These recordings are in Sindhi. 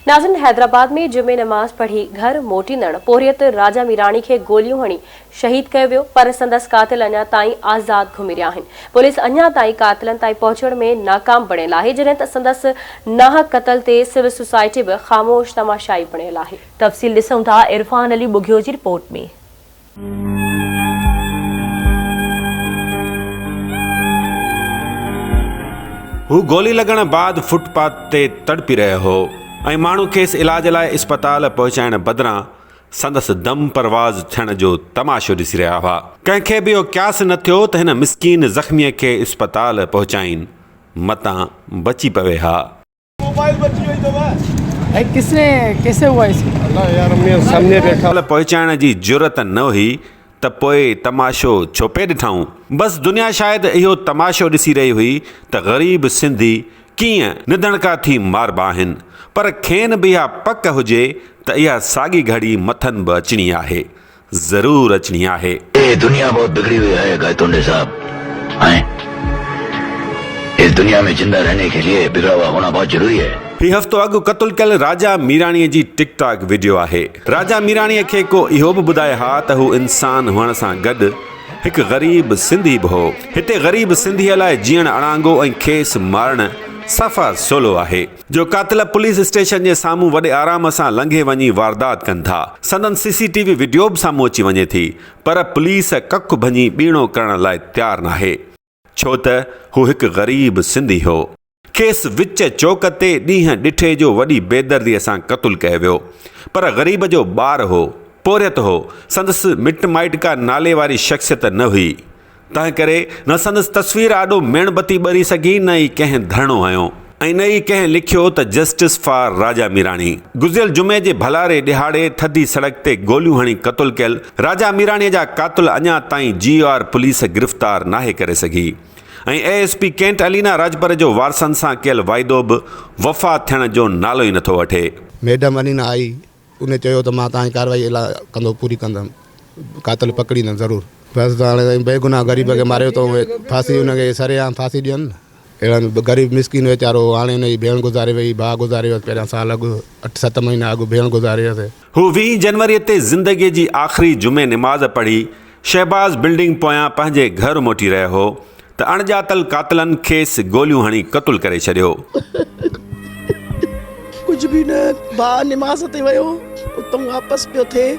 ناظرين حيدرآباد ۾ جمعي نماز پڙهي گهر موٽيندڙ پورهيت راجا ميراڻي کي گوليون هڻي شهيد ڪيو ويو پر سندس قاتل اڃا تائين آزاد گهمي رهيا آهن پوليس اڃا تائين قاتلن تائين پهچڻ ۾ ناڪام بڻيل آهي جڏهن ته سندس ناحق قتل تي سول سوسائٽي به خاموش تماشائي بڻيل آهي. تفصيل ڏسون ٿا عرفان علي ٻگهيو جي رپورٽ ۾. هو گولي لڳڻ بعد فٽ پاٿ تي تڙپي رهيو هو ۽ ماڻهو کيس علاج لاء اسپتال پهچائڻ بدران سندس دم پرواز ٿيڻ جو تماشو ڏسي رهيا هئا. ڪنهن کي به اهو قياس نه ٿيو ته هن مسڪين زخميء کي اسپتال پهچائين متان بچي پوي ها. موبائل بچي وئي ٿو ڀائي ڪس ني ڪيسي هوا اس الله يار امي سامني بيٺا ڳالهه پهچائڻ جي جرئت نه هئي ته پوء تماشو ڇو پئي ڏٺائون بس دنيا شايد اهو تماشو ڏسي رهي هئي ته غريب سنڌي ڪيئن نڌڻڪا ٿي ماربا آهن پر کين به اها پڪ هجي ته اها ساڳي گهڙي مٿن به اچڻي آهي ضرور اچڻي آهي. اي دنيا بهت بگڙي هئي هي گائتونڊي صاحب ائين اس دنيا مين زنده رهني ڪي ليئي بگڙا هوا هونا بهت ضروري هي. هي هفتو اڳ قتل ڪيل راجا ميراڻي جي ٽڪ ٽاڪ وڊيو آهي. راجا ميراڻي کي ڪو اهو به ٻڌائي ها ته هو انسان هئڻ سان گڏ هڪ غريب سنڌي به هو. هتي غريب سنڌيء لاء جيئڻ اڻانگو ۽ کيس مارڻ صفا سولو آهي. جو قاتل پوليس اسٽيشن جي سامهون وڏي آرام سان لنگهي وڃي واردات ڪن ٿا، سندن C C T V video به سامهون اچي وڃي ٿي پر پوليس ڪک ڀڃي ٻيڻو ڪرڻ لاء تيار ناهي. ڇو ته هو هڪ غريب سنڌي هو. کيس وچ چوڪ تي ڏينهن ڏٺي جو وڏي بيدردي سان قتل ڪيو ويو پر غريب جو ٻار هو، پورهيت هو، سندس مٽ مائٽ ڪا نالي واري شخصيت نه هئي. تنهن ڪري نه سندس تصوير آڏو ميڻ بتي ٻري سگهي نه ئي ڪنهن ڌرڻو هنيو ۽ نه ئي ڪنهن لکيو ته جسٽس فار راجا ميراڻي. گذريل جمعي جي ڀلاري ڏهاڙي ٿڌي سڙڪ تي گوليون هڻي قتل ڪيل راجا ميراڻي جا قاتل اڃا تائين جي آر پوليس گرفتار ناهي ڪري سگهي ۽ A S P cantt Alina Rajpar جو وارثن سان ڪيل واعدو به وفا ٿيڻ جو نالو ئي نٿو وٺي. ميڊم علينا آئي ان چيو ته مان توهانجي ڪارروائي الا ڪندو پوري ڪندم قاتل پڪڙيندم ضرور بس ته هاڻي سائين بيگناهه غريب کي ماريو اٿو ڦاسي ان کي سري عام ڦاسي ڏين اهڙن غريب مسڪين ويچارو هاڻي ان جي ڀيڻ گذاري وئي ڀاء گذاري ويس پهريان سال اڳ اٺ ست مهينا اڳ ڀيڻ گذاري ويس. هو ويهين جنوري تي زندگي جي آخري جمعي نماز پڙهي شهباز بلڊنگ پويان پنهنجي گهر موٽي رهيو هو ته اڻڄاتل قاتلن کيس گوليون هڻي قتل ڪري ڇڏيو. ڪجهه به نه ڀاء نماز تي ويو اتان واپس پيو ٿئي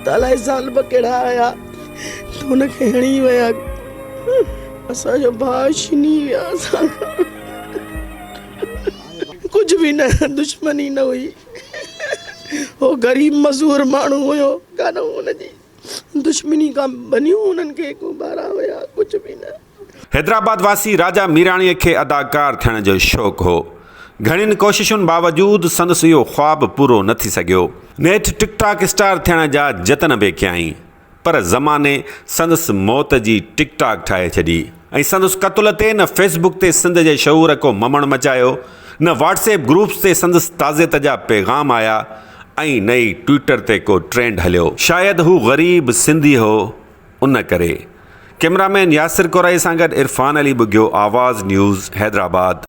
ته الائي ظالم ڪهڙا آيا ته هن کي هڻي ويا اسان جو ڀاء ڇني ويا اسان کان ڪجهه به نه دشمني نه هئي هو غريب مزور ماڻهو هيو ڪانه هن جي دشمني کان ڀنيون انهن کي ڪو ٻارا هيا ڪجهه به نه. حيدرآباد واسي راجا ميراڻيء کي اداڪار ٿيڻ جو شوق هو. گهڻين ڪوششن باوجود سندس اهو خواب پورو نه ٿي سگهيو. نيٺ ٽڪ ٽاڪ اسٽار ٿيڻ جا جتن به ڪيائين پر زماني سندس موت جي ٽڪ ٽاڪ ٺاهي ڇڏي. ۽ سندس قتل تي نه فيس بڪ تي سنڌ جي شعور ڪو ممڻ مچايو، نه واٽس ايپ گروپس تي سندس تعزيت جا پيغام آيا ۽ نه ئي ٽوئيٽر تي ڪو ٽرينڊ هليو. شايد هو غريب سنڌي هو ان ڪري. ڪيمرا مين ياسر قريشي سان گڏ عرفان علي ٻگهيو آواز نيوز حيدرآباد.